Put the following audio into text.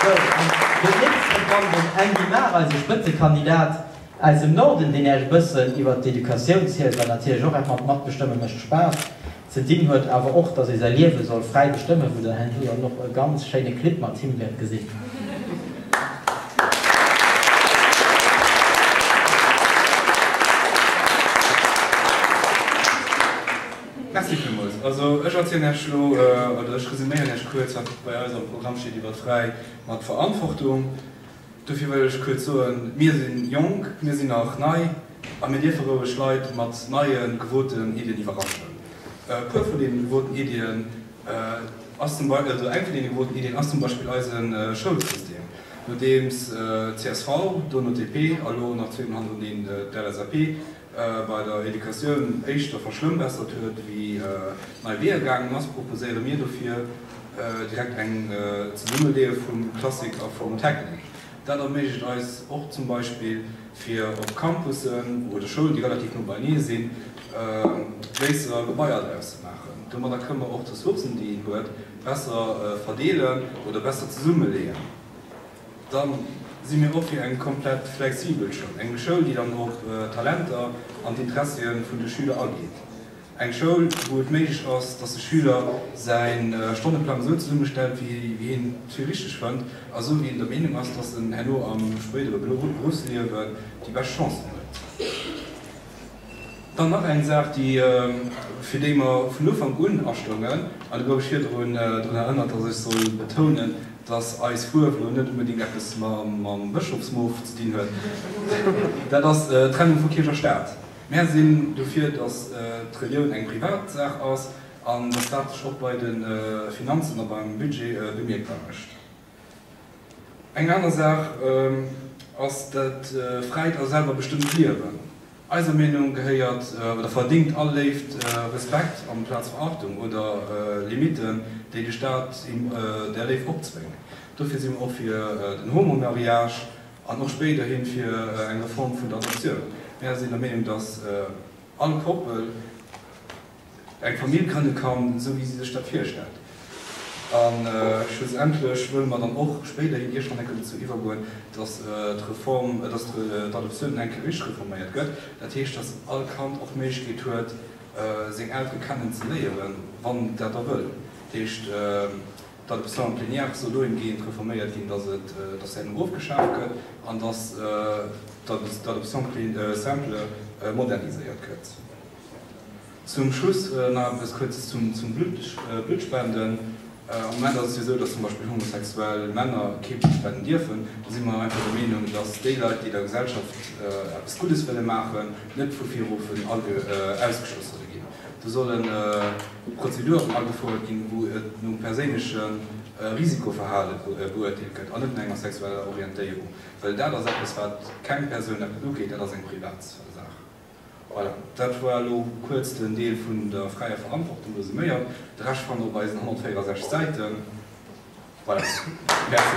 Sou, an do lénks hei dran den Andy Mahr, eise Spëtzekandidat aus dem Norden, deen Iech e bëssen iwwert d'Educatioun zielt, well natierlech och eppmol matbestëmme mécht Spaass. Ze dinn huet awer och, datt ee säi Liewe soll fräi bestëmme wou Der, Herr Henn, jo dann och e ganz schéine Clip mat him wäert gesinn. Merci villmools. Also ech erzielen Iech elo, oder ech resuméieren Iech kuerz, wat bei eis am Programm steet iwwert Fräi mat Verantwortung. Dofir wëll ech kuerz soen, mir si jonk, mir sinn nach nei a mir dierfe roueg Leit mat neie gewoten Iddien iwwerraschen. E puer vun deenen gewoten Iddien. Eng vun deene groussen Iddien ass zum Beispill eise Schoulsystem, nodeems csv, dono DP a lo nach zwee Mol hannereneen d'LSAP bei der Educatioun éischter verschlëmmbessert huet wéi nei Weeër gaangen ass, proposéiere mir dofir direkt eng Zesummeleeë vum Classique a vum Technique. Dat erméiglecht eis och zum Beispill, fir op Campussen oder Schoulen, déi relativ no beienee sinn, gréisserer Gebaier draus ze maachen. Domadder kënne mer och d'Ressourcen, déi een huet, besser verdeelen oder besser zesummeleeën. Da si mir och fir eng komplett flexibel Schoul, eng Schoul, déi dann op d'Talenter an d'Interessië vun de Schüler ageet. Eng Schoul, wou et méiglech ass, dass de Schüler säi Stonneplang esou zesummestellt, wéi hien et fir richteg fënnt a esou, wéi en der Meenung ass, dass en herno am spéidere Beruffsliewen déi bescht Chancen huet. Dann nach eng Saach, déi, fir déi mer vun Ufank un astoungen, an et gouf ech virdrun drun erënnert, dass ech soll betounen, dass eis Fuerf elo net onbedéngt eppes mam Bëschofsmof ze dinn huet, dat ass d'Trennung vu Kierch a Staat. Mär sinn dofir, dass d'Relioun eng Privatsaach ass an dass dat sech och bei de Finanzen a beim Budget bemierkbar mécht. Eng aner Saach ass dat fräit a selwer bestëmmt Liewen. Eiser Meenung gehéiert oder verdéngt all Léift Respekt amplaz Verachtung oder Limiten, déi de Staat där Léift opzwéngt. Dofir si mer och fir den Homo-Mariage. An och spéiderhin fir eng Reform vun der Adoptioun. Mär sinn der Meenung, dass all Koppel eng Famill grënne kann, esou wéi si sech dat virstellt. A schlussendlech wëlle mer dann och spéiderhin iergendwann enke dozou iwwergoen, dass d'Reform, dass d'Adoptioun enke richteg reforméiert gëtt. Dat heescht, dass all Kand och d'Méiglechkeet huet, seng Eltere kennen ze léieren, wann en dat da wëll. Dat heescht. datt de Centre Plénière soll dohingehend reforméiert ginn, datt en erofgeschaaft gëtt an datt de Centre Simple moderniséiert gëtt. Zum Schluss nach eppes Kuerzes zum Bluttspenden. Am Moment ass et jo esou, datt zum Beispill homosexuell Männer kee Blutt spenden dierfen. Do si mer einfach der Meenung, datt déi Leit, déi der Gesellschaft eppes Guddes wëlle maachen, net vu viruffen ausgeschloss solle ginn. Do solle Prozeduren agefuerdert ginn, wou et nom perséinleche Risikoverhale beuerteelt gëtt an net no enger sexueller Orientéierung, well dat ass eppes, wat keng Persoun eppes ugeet, dat ass eng Privatssaach. Voilà, dat war elo kuerz den Deel vun der fräier Verantwortung resuméiert. De Rescht fannt Der op eisen 164 Säiten. Voilà, Merci.